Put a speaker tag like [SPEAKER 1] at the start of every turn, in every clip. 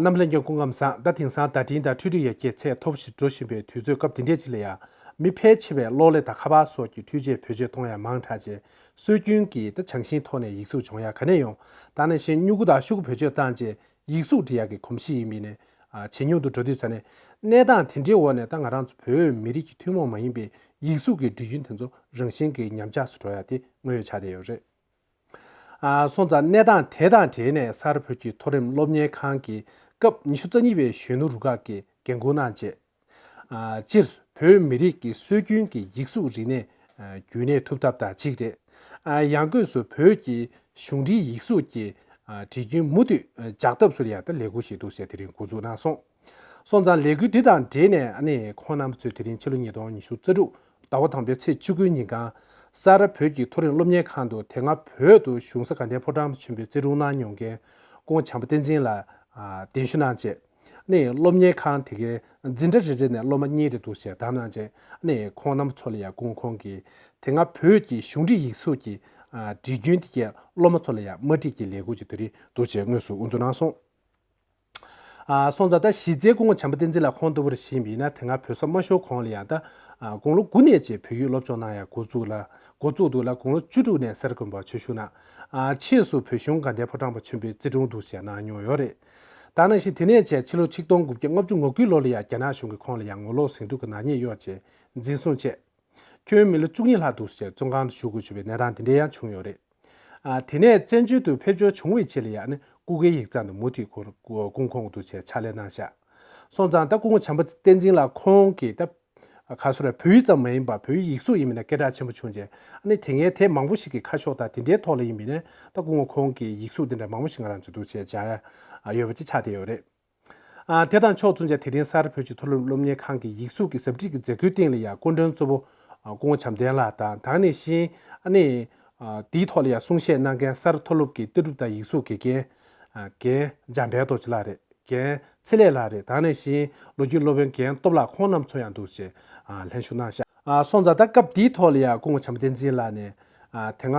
[SPEAKER 1] རྣམས་ལྷན་སྐྱེས་སྐུ་ངམ་བཟང་ལྟ་དེང་སང་བརྡ་འཕྲིན་དང་འཕྲུལ་རིགས་ཡར་རྒྱས་ཚད་མཐོ་པོ་ཞིག་འགྲོ་བཞིན་པའི་དུས་ཚོད་སྐབས་དེ་འདྲའི་ཆེད་ལ་ཡང་མི་ཕལ་ཆེ་བས་གློག་ཀླད་དང་ཁ་པར་སོགས་ཀྱི་འཕྲུལ་ཆས་བོད་ཆས་མཐོང་ཡང་མང་དྲགས་རྗེས་སྲོལ་རྒྱུན་གྱི་དང་བྱང་ཤིང་ཐོག་ནས་ཡིག་གཟུགས་སྦྱོང་ཡ་ག་ནས་ཡོང་ད་ནས་གཞན་སྨྱུ་གུ་དང་ཤུ་གུ་བེད་སྤྱོད་བཏང་རྗེས་ཡིག་གཟུགས་འབྲི་ཡ་གི་གོམས་གཤིས་ཡིན་མིན་ནས་ཇེ་ཉུང་དུ་འགྲོ་དུས་ས་གནས་གནས་སྟངས་དེ་འདྲའི་འོག་ནས་ད་ང་རང་ཚོ་བོད་མི་རིགས་ཀྱི་ཐུན་མོང་མ་ཡིན་པའི་ཡིག་གཟུགས་ཀྱི་འབྲི་རྒྱུན་དེ་ཚོ་རང་བཞིན་གྱིས་ཉམས་ཆགས་སུ་འགྲོ་ཡ་དེ་དངོས་ཡོད་ཆ་དེ་ཡོད་རེད། སོང་ཙང་གནས་སྟངས་དེ་དང་འབྲེལ་ནས་སར་བོད་ཀྱི་མཐོ་རིམ་སློབ་གཉེར་ཁང་གི་སྐབས་ཉི་ཤུ་རྩ་གཉིས་པའི་གཞོན་ནུ་རུ་ཁག་གི་འགན་ཁུར་གནང་རྗེས། སྤྱིར་བོད་མི་རིགས་ཀྱི་སྲོལ་རྒྱུན་གྱི་ཡིག་གཟུགས་རིག་གནས་རྒྱུན་གནས་ཐུབ་ཐབས་དང་གཅིག་རེད། ཡང་སྒོས་སུ་བོད་ཀྱི་གཞུང་འབྲེལ་ཡིག་གཟུགས་ཀྱི་བྲིས་རྒྱུན་མུ་མཐུད་འཇགས་ཐབས་སུ་ཡང་ལས་ཁུར་བཞིན་འདུག་ཟེར་དེ་རིང་འགོ་འཛུགས་གནང་སོང། སོང་ཙང་ལས་འགུལ་འདི་དང་འབྲེལ་ནས་ཁོང་རྣམ་པ་ཚོས་དེ་རིང་ཕྱི་ལོ་ཉིས་སྟོང་ཉི་ཤུ་རྩ་དྲུག་ཟླ་བ་དང་པོའི་ཚེས་བཅུ་དགུའི་ཉིན་གངས་ས་ར་བོད་ཀྱི་མཐོ་རིམ་སློབ་གཉེར་ཁང་དུ་དེ་སྔ་བོད་དུ་གཞུང་ས་དགའ་ལྡན་ཕོ་བྲང་ཆེན་པོའི་རྩེ་དྲུང་གནང་མྱོང་མཁན་ཀོང་བྱམས་པ་བསྟན་འཛིན་ལ་གདན་ཞུ་གནང་རྗེས། སློབ་གཉེར་ཁང་དེ་གའི་འཛིན་གྲྭ་རེ་རེ་ནས་སློབ་མ་གཉིས་རེ་འདུག་ཞེས་བསྒྲགས་གནང་རྗེས་ཁོང་རྣམ་པ་ཚོ་ལ་ཡང་ཀོང་ཁོང་གིས་དེ་སྔ་བོད་ཀྱི་གཞུང་འབྲེལ་ཡིག་གཟུགས་ཀྱི་འབྲི་རྒྱུན་དེ་གའི་སློབ་མ་ཚོ་ལ་ཡང་མ་འགྲིག་ཀྱི་ལས་འགུལ་ཅིག་དེ་རིང་འདུག་ཅེས་དངོས་སུ་འུར་ཚོད་གནང་སོང། སོང་ཙང་ད་གཞི་རྩའི་སྐུ་ངོ་བྱམས་པ་བསྟན་འཛིན་ལགས་ཁོང་ལྟ་བུ་རེ་བཞེངས་པ་ཡིན་ན་དེ་སྔ་བོད་ས་མ་ཤོར་གོང་ལ་ཡང་ད་དགོང་ལོ་དགུ་ནས་རྗེས་བོད་ཡིག་སློབ་སྦྱོང་གནང་ཡག་འགོ་བཙུགས་ལ་འགོ་བཙུགས་འདུག་ལ་དགོང་ལོ་བཅུ་དྲུག་ནས་གསར་དགོན་པར་ཆོས་ཞུགས་གནང། ཕྱིས་སུ་བོད་གཞུང་དགའ་ལྡན་ཕོ་བྲང་པ་ཆེན་པོའི་རྩེ་དྲུང་དུ་ཞེས་གནང་མྱོང་ཡོད་རེད་ད་ནང་བཞིན་དེ་ནས་བྱས་ཕྱི་ལོ་ཆིག་སྟོང་དགུ་བརྒྱ་ལྔ་བཅུ་ངོ་དགུའི་ལོ་ལ་ཡང་རྒྱ་ནག་གཞུང་གིས་ཁོང་ལ་ཡང་ངོ་ལོག་ཟིང་འཁྲུག་གི་ནག་ཉེས་གཡོགས་རྗེས་འཛིན་བཟུང་བྱས། ཁྱོན་མི་ལོ་བཅུ་གཉིས་ལྷག་འདུག་ཟེར་བཙོན་ཁང་དུ་བཞུགས་དགོས་བྱུང་བའི་གནས་སྟངས་དེ་འདྲའི་ཡང་བྱུང་ཡོད་རེད། དེ་ནས་བཙན་བྱོལ་དུ་ཕེབས་འབྱོར་བྱུང་བའི་ཆེད་ལས་ཡག་ནི་སྐུ་སྒེར་ཡིག་ཚང་དུ་མུ་མཐུད་སྐུ་འཁོར་འདུག་བྱས་ཕྱག་ལས་གནང་བཞག་སོང་ཙང་ད་སྐུ་ངོ་བྱམས་པ་བསྟན་འཛིན་ལགས་ཁོང་གིས་ད་ག་སུ་ར་བོད་ཡིག་ཙམ་མ་ཡིན་པར་བོད་ཡིག་ཡིག་གཟུགས་ཡིན་མིན་ན་སྐད་གྲགས་ཆེན་པོ་བྱུང་རྗེས་ནི་དེ་ངས་དེབ་མང་པོ་ཞིག་གི་ཁ་ཤོག་དང་དེ་འདྲའི་ཐོག་ལ་ཡིན་མིན་ནི་ད་སྐུ་ངོ་ཁོང་གིས་ཡིག་གཟུགས་དེ་འདྲ་མང་པོ་ཞིག་ང་རང་ཚོས་འདུག་བྱས་བཞག་ཡོད་པ་ཅིག་ཆགས་བསྡད་ཡོད་རེད། དེ་དང་ཕྱོགས་མཚུངས་ཆ་དེ་རིང་གསར་བོད་ཀྱི་མཐོ་རིམ་སློབ་གཉེར་ཁང་གི་ཡིག་གཟུགས་ཀྱི་ཟབ་ཁྲིད་ཀྱི་མཛད་སྒོའི་སྟེང་ལ་ཡང་སྐུ་མགྲོན་གཙོ་བོ་སྐུ་ངོ་བྱམས་ལྡན་ལགས་དང་དང་ནི་ཤིང་ནི། དེའི་ཐོག་ལ་ཡང་གསུང་བཤད་གནང་མཁན་གསར་མཐོ་སློབ་ཀྱི་ལྟ་གྲུབ་དང་ཡིག་གཟུགས་དགེ་རྒན། རྒན། འཇམ་དཔལ་རྡོ་རྗེ་ལགས་རེད། རྒན། ཚེ་ལེགས་ལགས་རེད་དང་ནི་ཤིང་ལོ་རྒྱུས་སློབ་དཔོན་རྒན་སྟོབས་ལགས་ཁོང་རྣམས་ཚོ་ཡང་འདུག་ཅེས་ལྷན་ཞུ་གནང། སོང་ཙང་ད་སྐབས་དེའི་ཐོག་ལ་ཡང་སྐུ་ངོ་བྱམས་བསྟན་འཛིན་ལགས་ནས་དེ་སྔ་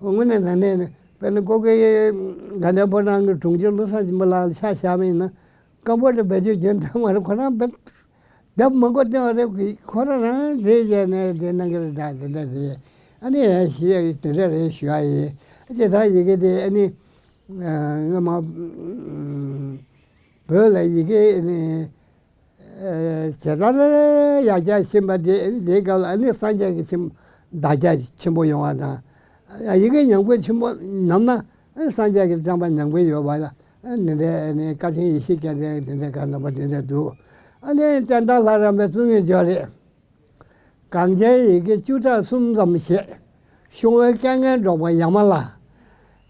[SPEAKER 2] དངོས་གནས་ན་གནས་ནས་དཔལ་ལྡན་ཀོ་ཀེ་ཡེ་ག་འདྲ་བོ་རང་གི་དྲུང་ཆེ་བློ་བཟང་ཆེན་པོ་ལགས་ལ་ཕྱག་བཞག་མིན་ན་སྐམ་པོ་ལ་བེད་སྤྱོད་བྱེད་འདོད་མ་རེད་ཁོ་རང་བེད་སྡབ་མི་འགོ་ཏེ་རེད་ཁོ་རང་རང་བཟོས་བྱས་ནས་དེ་གནང་གི་རེད་དྲ་དེ་འདྲ་རེད་ཨ་ནི་ཡ་ཤི་ཡ་དེ་འདྲ་རེད་ཞུ་ཡ་ཡི་ཅེས་ད་ཡི་གེ་དེ་ཨ་ནི་སྔོན་མ་བོད་ལ་ཡི་གེ་ཨ་ནི། དེ་ལྟར་ཡ་གྱལ་ཕྱིན་པ་དེ་དེའི་སྐབས་ལ་ནི་སངས་རྒྱས་ཀྱི་ཆེན་བདག་ཅག་ཆེན་པོ་ཡོང་བ་དང། ཡི་གེ་ཉམས་རྒུད་ཆེན་པོ་ནམ་ན་སངས་རྒྱས་ཀྱི་བསྟན་པ་ཉམས་རྒུད་ཡོད་པ་ལ་ནི་འདི་ནི་བཀའ་ཆེན་ཡེ་ཤེས་སྐྱེས་དགྲའི་དེ་འདྲའི་བཀའ་ནོར་བ་དེ་འདྲའི་དུ། ཨ་ནི་བསྟན་དར་ལྷ་རམས་པའི་བཙུན་མོའི་ཇོ་རི། གངས་ཅན་ཡི་གེ་བཅུ་ཕྲག་གསུམ་ཙམ་བཤད། ཤོང་བའི་སྐལ་ངན་སྒྲོགས་པ་ཡ་མ་ལ།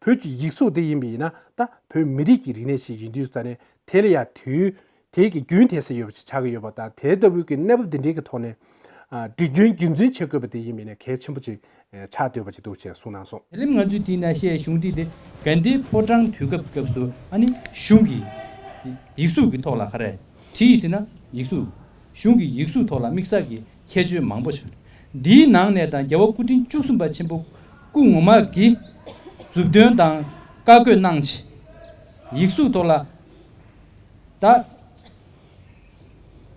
[SPEAKER 1] བོད་ཀྱི་ཡིག་གཟུགས་དེ་ཡིན་པས་ན་ད་བོད་མི་རིགས་ཀྱི་རིག་གནས་ཤིག་ཡིན་དུས་ས་གནས་དེ་ལ་ཡང་དུས་དེ་ཀྱི་རྒྱུན་དེ་ཟེར་ཡོད་པ་ཞིག་ཆགས་ཀྱི་ཡོད་པ་དང་དེ་ལྟ་བུའི་ཀྱི་གནས་བབ་དེ་འདྲའི་ཀྱི་ཐོག་ནས། འབྲི་རྒྱུན་རྒྱུན་འཛིན་བྱེད་དགོས་པ་དེ་ཡིན་པས་ན་གལ་ཆེན་པོ་ཅིག་ཆགས་འདོད་པ་ཅིག་འདུག་ཅེས་གསུངས་གནང་སོང། ལེམ་ང་ཚོས་དེས་ན་བཤད་
[SPEAKER 3] གཞུང་བྲིས་ཏེ་གན་དྷིའི་ཕོ་བྲང་དུས་སྐབས་སྐབས་སུ་ཨ་ནི་གཞུང་གི་ཡིག་གཟུགས་ཀྱི་ཐོག་ལ་ཁ་རས་བྲིས་ཟིན་ན་ཡིག་གཟུགས། གཞུང་གི་ཡིག་གཟུགས་ཐོག་ལ་དམིགས་བསལ་གྱི་ཁྱད་ཆོས་མང་པོ་ཞིག་རེད། འདིའི་ནང་ནས་དང་རྒྱལ་བ་སྐུ་ཕྲེང་བཅུ་གསུམ་པ་ཆེན་པོ་སྐུ་ངོ་མ་གིས་མཛུབ་སྟོན་དང་བཀའ་བཀོད་གནང་ཆེད། ཡིག་གཟུགས་ཐོག་ལ་ད་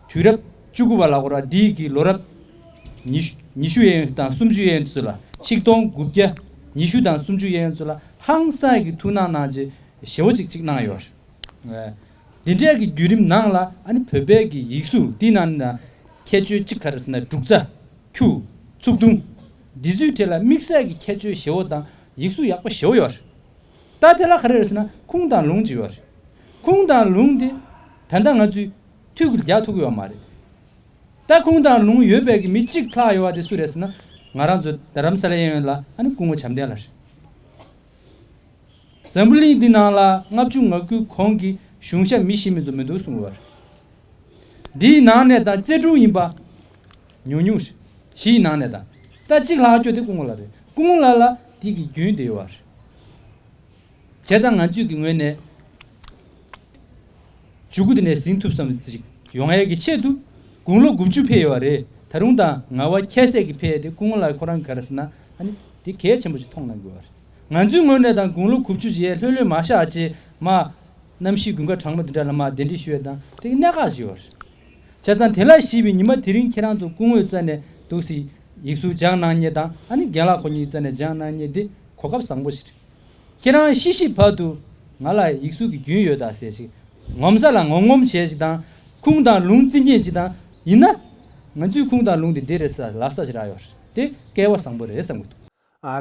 [SPEAKER 3] དུས་རབས་བཅུ་དགུ་པ་ལ་གོ་ར་འདི་ཡིག་གིས་ལོ་རབས་ཉི་ཤུ་ཡན་དང་སུམ་ཅུ་ཡན་ཚུད་ལ་ཆིག་སྟོང་དགུ་བརྒྱ་ཉི་ཤུ་དང་སུམ་ཅུ་ཡན་ཚུད་ལ་ཧང་སངས་ཀྱི་ཐུགས་སྣང་གནང་ཆེད་ཞེ་བོ་ཅིག་ཅིག་གནང་ཡོད་རེད། འདི་འདྲའི་གི་བརྒྱུད་རིམ་ནང་ལ་ཨ་ནི་བོད་པའི་གི་ཡིག་གཟུགས་འདི་ནང་ནི་ནང་ཁྱད་ཆོས་གཅིག་ག་རེ་ཟེར་ན་འབྲུག་རྩ། ཁྱུ། ཚུགས་ཐུང། འདི་ཚོའི་གྲས་ལ་དམིགས་བསལ་གི་ཁྱད་ཆོས་བཞི་བོ་དང་ཡིག་གཟུགས་ཡག་པོ་བཞི་བོ་ཡོད་རེད། ད་དེ་ལ་ག་རེ་རེད་ཟེར་ན་ཁུངས་དང་ལུང་གཅིག་ཡོད་རེད། ཁུངས་དང་ལུང་དེ་ད་ལྟ་ང་ཚོས་ཐུགས་ཀྱི་རྒྱག་ཐུབ་ཀྱི་ཡོད་མ་རེད། ད་ཁུངས་དང་ལུང་ཡོད་པའི་གི་མི་གཅིག་ལྷག་ཡོད་བ་དེ་སུ་རེད་ཟེར་ན་ང་རང་ཚོ་རྡ་རམ་ས་ལའི་གཡས་གཡོན་ལ་ཨ་ནི་སྐུ་ངོ་བྱམས་ལྡན་ལ་རེད། འཛམ་བུ་གླིང་འདི་ནང་ལ་ལྔ་བཅུ་ང་དགུའི་གོང་གི་གཞུང་ཞབས་མི་ཤི་མེད་དུ་མི་འདུག་གསུངས་ཡོད་རེད། འདིའི་ནང་ནས་དང་བརྩེ་དྲུང་ཡིན་པ། ཉུང་ཉུང། བཞིའི་ནང་ནས་དང་རྟ་གཅིག་ལྷག་སྐྱོ་དེ་སྐུ་ངོ་ལ་རེད་སྐུ་ངོ་ལ་ལ་དེ་གི་རྒྱུན་དེ་ཡོད་རེད། བྱས་ཙང་ང་ཚོས་གི་ངོས་ནས་བྱུས་གུ་དེ་ནས་ཟིན་ཐུབ་བསམ་ཅིག་ཡོང་ཨེ་གི་ཆེད་དུ་དགུང་ལོ་དགུ་བཅུ་ཕེ་ཡོད་བ་རེད་ད་རུང་དང་ང་བ་ཁྱད་བསད་གི་ཕེ་དེ་སྐུ་ངོ་ལ་ཁོ་རང་གི་ག་རེ་ཟེར་ན་ཨ་ནི་དེ་གལ་ཆེན་པོ་ཞིག་མཐོང་གནང་དགོས་བ་རེད། ང་ཚོའི་དངོས་གནས་དང་དགུང་ལོ་གུ་བཅུ་བཞི་ཡས་ལྷོད་ལྷོད་མ་བཞག་ཅེས་མ། གནམ་གཤིས་དགུན་ཁ་གྲང་མོ་འདི་འདྲ་ལ་མ་གདན་འདྲེན་ཞུ་བའི་དང་དེ་གི་གནད་འགག་ཞིག་ཡོད་རེད། བྱས་ཙང་དེ་ལ་གཞིས་པའི་ཉི་མ་དེ་རིང་ཁྱེད་རང་ཚོ་སྐུ་དངོས་བཙལ་ནས་འདུག་སྲིད། ཡིག་གཟུགས་སྦྱང་གནང་རྙེད་དང་ཨ་ནི་རྒན་ལགས་ཁོ་གཉིས་བཙལ་ནས་སྦྱང་གནང་རྙེད་འདི་གོ་སྐབས་བཟང་པོ་ཞིག་རེད། ཁྱེད་རང་ཤི་ཤི་བར་དུ་ང་ལ་ཡིག་གཟུགས་ཀྱི་རྒྱུན་ཡོད་དག་ཟེར་ཞིག་ངོམ་ས་ལ་ངོམ་ངོམ་བྱས་ཞིག་དང་ཁུངས་དང་ལུང་རྩི་མཁྱེན་ཅིག་དང་ཡིན་ན། ང་ཚོའི་ཁུངས་དང་ལུང་དེ་འདི་རེད་ས་ལབ་ས་ཞིག་རག་ཡོད་རེད་དེ་སྐལ་བ་བཟང་པོ་རེད་བསམ་གྱི་འདུག།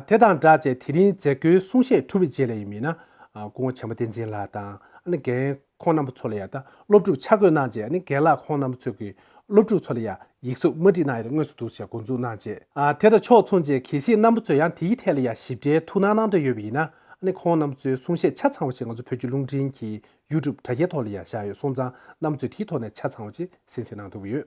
[SPEAKER 3] དེ་དང་སྦྲགས་
[SPEAKER 1] ཅེས་དེ་རིང་མཛད་སྒོའི་གསུང་བཤད་གྲུབ་པའི་རྗེས་ལ་ཡིན་མིན། སྐུ་ངོ་ཆེན་པོ་བསྟན་འཛིན་ལགས་དང་རྒན་ཁོང་རྣམ་པ་ཚོ་ལ་ཡང་སློབ་ཕྲུག་ཆ་བགོས་གནང་རྗེས་རྒན་ལགས་ཁོང་རྣམ་པ་ཚོས་ཀྱིས་སློབ་ཕྲུག་ཚོ་ལ་ཡང་ཡིག་གཟུགས་དམར་སྒྲིག་གནང་ཡོད་རེད་དངོས་སུ་འདུག་ཅེས་འགོ་འཛུགས་གནང་རྗེས། དེ་དང་ཕྱོགས་མཚུངས་ཅན་གལ་སྲིད་རྣམ་པ་ཚོས་ཡང་དེའི་ཐད་ལ་ཡང་ཞིབ་ཕྲའི་ཐུགས་སྣང་གནང་འདོད་ཡོད་པ་ཡིན་ན། ཁོང་རྣམ་པ་ཚོའི་གསུང་བཤད་ཆ་ཚང་བ་ཞིག་ང་ཚོ་བོད་ཀྱི་རླུང་འཕྲིན་གྱི YouTube དྲ་རྒྱའི་ཐོག་ལ་ཡང་བཞག་ཡོད་སོང་ཙང་གནམ་མཚོས་དེའི་ཐོག་ནས་ཆ་ཚང་བ་ཅིག་ཟིན་ཟིན་གནང་ཐུབ་ཀྱི་ཡོད།